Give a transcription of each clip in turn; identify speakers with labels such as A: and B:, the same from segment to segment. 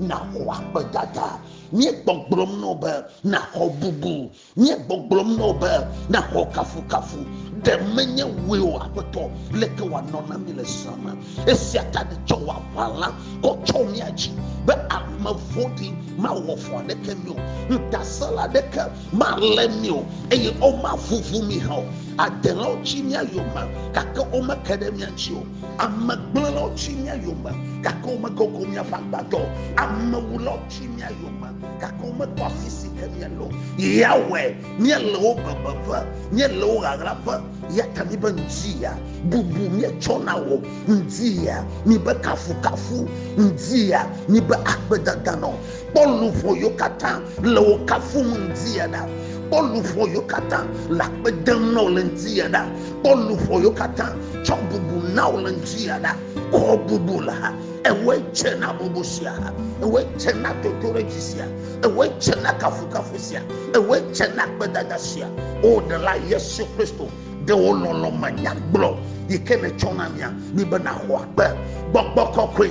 A: naxɔ akpedada míegbɔgblɔm nɔ be naxɔ bubu míegbɔgblɔm nɔ be naxɔ kafukafu ɖe menye wòe o aƒetɔ leke wòanɔ na mí le zã me esia ta nètsɔ wò aʋala kɔ tsɔ mía dzi be ame vɔ̃ɖi mawɔ vɔ̃ aɖeke mí o ŋutasẽla aɖeke malé mí o eye womavuvu mí hã o adelawo tsi mía yome gake womeke ɖe mía ŋuti o Amegblẽlawo tsi mía yome, gake womekoko míaƒe agbadɔ o. Amewulawo tsi mía yome, gake womekpɔ afi si ke míele o. Yahweh, míele wo bebeƒe, míele wo ɣaɣlaƒe, eya ta míbe ŋdziya, bubu míetsɔ na wò, ŋdziya, míbe kafukafu, ŋdziya, míbe akpedada nɔ kpɔ luʋɔ yo katã le wo kafum ŋdi ya ɖa kpɔ luʋɔ yo katã le akpe dem na wo le ŋdi ya ɖa kpɔ luʋɔ yo katã tsɔ bubu na wo le ŋdi ya ɖa kɔ bubu la ha ewɔe dze na bubu sia ha ewɔe dze na toto ɖe dzi sia ewɔe dze na kafukafu sia ewɔe dze na gbedada sia o ɖe la yesu kristu ɖe wo lɔlɔ manyagblɔ yi ke netsɔ na mia mi be naxɔ akpe gbɔgbɔ kɔkɔe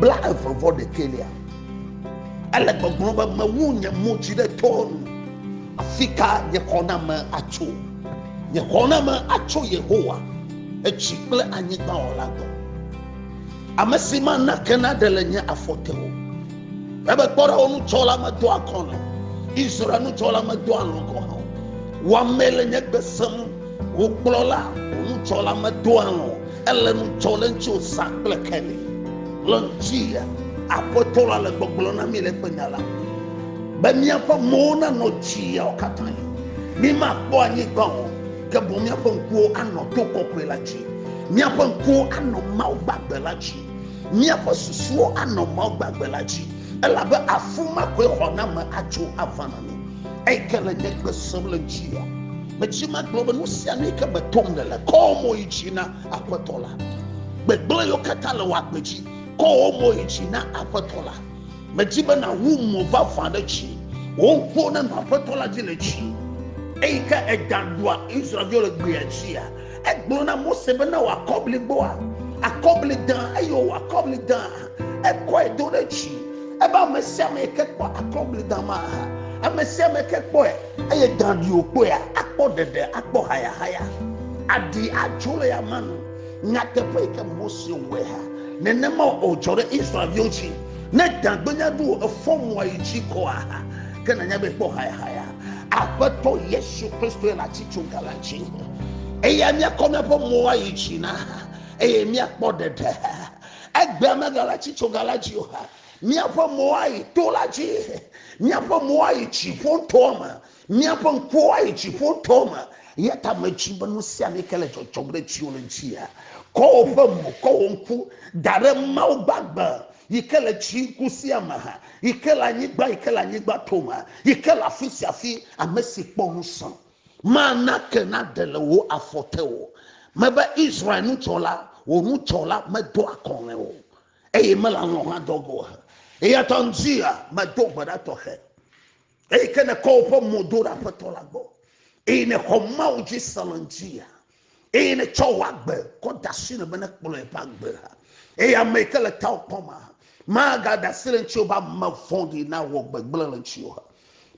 A: blaeve-vɔ-ɖekɛlia, ele gbɔgblɔm be, Mewu nye mo dzi ɖe towo nu, afika nye xɔname atso? Nye xɔname atso Yehowa, edzi kple anyigba Wɔla gbɔ, amesi mana ke naɖe le nye afɔ te o. Ebe kpɔɖewo nudzɔla medo akɔ nɛ, Israel nudzɔla medo alɔ̃ gɔ̃ hã o. Wò amee le nye gbe sem, wò kplɔla, wò nudzɔla medo alɔ̃ o. Ele nu tsɔ le ŋuti wòzã kple Kelly le ŋuti ya. Aƒetɔ la le gbɔgblɔ na mí le eƒe nya la be míaƒe mowo nanɔ dziawo katã. Mímakpɔ anyigba o, ke boŋ míaƒe ŋkuwo anɔ to kɔkɔe la dzi. Míaƒe ŋkuwo anɔ Mawu gbagbe la dzi. Míaƒe susuwo anɔ Mawu gbagbe la dzi, elabe afi ma koe xɔname atso ava na mí. Eyi ke le nye gbe sem le dzia, medzi magblɔ be nu sia nu yi ke metom le le kɔ mo yi dzi na Aƒetɔ la. Gbegblẽ yiwo katã le wò agbe dzi, kɔ wò mo yi dzi na Aƒetɔ la. Medi be nàwu mo vavã ɖe dzi. Wò ŋkuwo nenɔ Aƒetɔ la dzi le dzi. Eyi ke èda ɖua Israel-viwo le gbea dzia, Egblɔ na Mose be na wòakɔ bliboa, akɔbli dã, eye wòwɔ akɔbli dã. Ekɔe do ɖe dzi. Ebe ame sia ame yi ke kpɔ akɔbli dã ma, ame sia ame ke kpɔe, eye dã ɖi wòkpɔea, akpɔ ɖeɖe, akpɔ hayahaya. Aɖi adzo le yama nu. Nyateƒe yi ke Mose wɔe ha, nenema wòdzɔ ɖe Israelviwo dzi. Ne dã gbenya ɖo efɔ mo ayi dzi kɔa, ke nànya be ekpɔ hayahaya. Aƒetɔ Yesu Kristoe le atitsoga la dzi. Eya míakɔ míaƒe mo ayi dzi na eye míakpɔ ɖeɖe. Egbea megale atitsoga la dzi o. Míaƒe mo ayi to la dzi. Míaƒe mo ayi dziƒo ŋutɔ me. Míaƒe ŋkuwo ayi dziƒo ŋutɔ me. Eya ta medzi be nu sia nu yi ke le dzɔdzɔm ɖe dziwò le dzia, kɔ woƒe mo, kɔ wò ŋku da ɖe Mawu gbagbe yi ke le dziku sia me, yi ke le anyigba yi ke le anyigba tome yi ke le afi sia afi ame si kpɔ ŋusẽ mana ke naɖe le wò afɔ te o mebe israel nutsɔla wò nutsɔla medo akɔlɔ̃e o eye mele alɔ̃ hã dɔ go he eya ta ŋdzia medo gbe ɖa tɔxɛ eyi ke nekɔ woƒe mo do ɖe aƒetɔ la gbɔ eye nexɔ mawu dzi se le ŋdzia eye netsɔ wò agbe kɔ da asi ne be nekplɔ eƒe agbe ha eye ame yi ke le tawò kpɔm ha magada asi le ŋuti be ame vɔ̃ɖi nawɔ gbegblẽ le ŋuti ha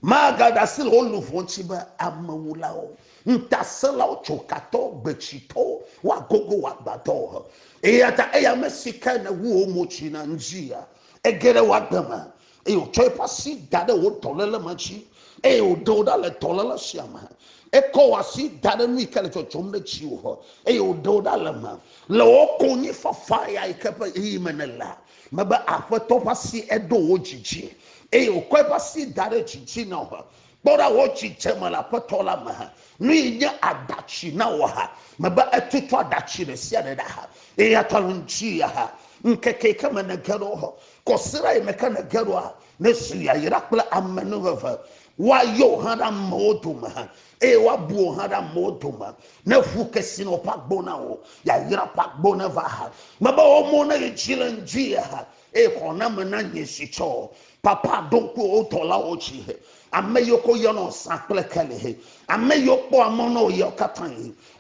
A: magada asi le wo luʋɔ ŋuti be amewulawo ŋutasẽlawo tsokatɔ gbetsitɔ woagogo wò agbadɔ ha eya ta eya ame si ke nèwu wò mo tsi na ŋuti ya ege ɖe wò agbe me eye wòtsɔ eƒe asi da ɖe wò dɔléle ma dzi eye wòɖe wò ɖa le dɔléle sia me ekɔ wò asi da ɖe nu yi ke le dzɔdzɔm ɖe dziwò eye wòɖe wò ɖa le me le wò konyifafa ya yi ke ƒe ɣeyiɣi me nèlea mebe aƒetɔ ƒe asi eɖo wò dzi dzi eye wòkɔ eƒe asi da ɖe dzi dzi na wò kpɔ ɖa wò dzidzeme le aƒetɔ la me nu yi nye aɖatsi na wò ha mebe etutu aɖatsi ɖe sia ɖe ɖa ha eye atɔ le ŋuti ya ha ŋkeke yi ke me nège ɖo Kɔsiɖa yi me ke nège ɖoa, nezu yayra kple amenuveve. Woayɔ wò hã ɖe amewo dome eye woabu wò hã ɖe amewo dome. Neʋu kesinɔ ƒe agbo na wò, yayra ƒe agbo neva. Mebe wò mo neyi dzi le ŋdui eye xɔname nanye si tsɔ. Papa ɖo ŋku wò dɔlawo dzi, ame yiwo ke woyɔnɔ zã kple keli, ame yiwo kpɔa mɔ na wò ɣeawo katã.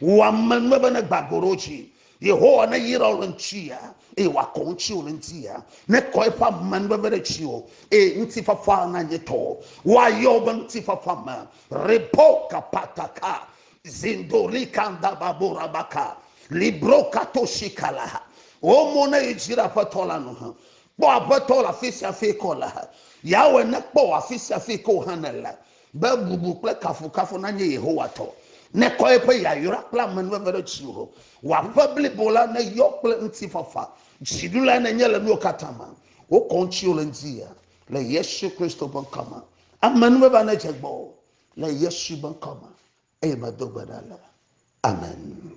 A: Wò amenuveve negbã go ɖe wo dzi Yehowa neyra wò le ŋutia, eye wòakɔ ŋuti wò le ŋutia, nekɔ eƒe amenuveve ɖe tsi o, eye ŋutifafa nanye tɔ. Woayɔ wò be ŋutifafa me. Rebo kapataka, zindoli kandababorabaka, libro katosikala. Wò mo ne yi dzi ɖe Aƒetɔ la nu. Kpɔ Aƒetɔ le afi sia afi ke wòle. Yahweh nekpɔ wò afi sia afi ke wò hã nèle. be bubu kple kafukafu nanye Yehowa tɔ. Nekɔ eƒe yayra kple amenuveve ɖe dziwò. Wò aƒe blibo la neyɔ kple ŋutifafa. Dziɖula nenye le nuwo katã me. Wokɔ ŋutiwò le ŋdi le Yesu Kristo ƒe ŋkɔ me. Amenuveve nedze gbɔwò le Yesu ƒe ŋkɔ me eye medo gbe ɖa le. Amen.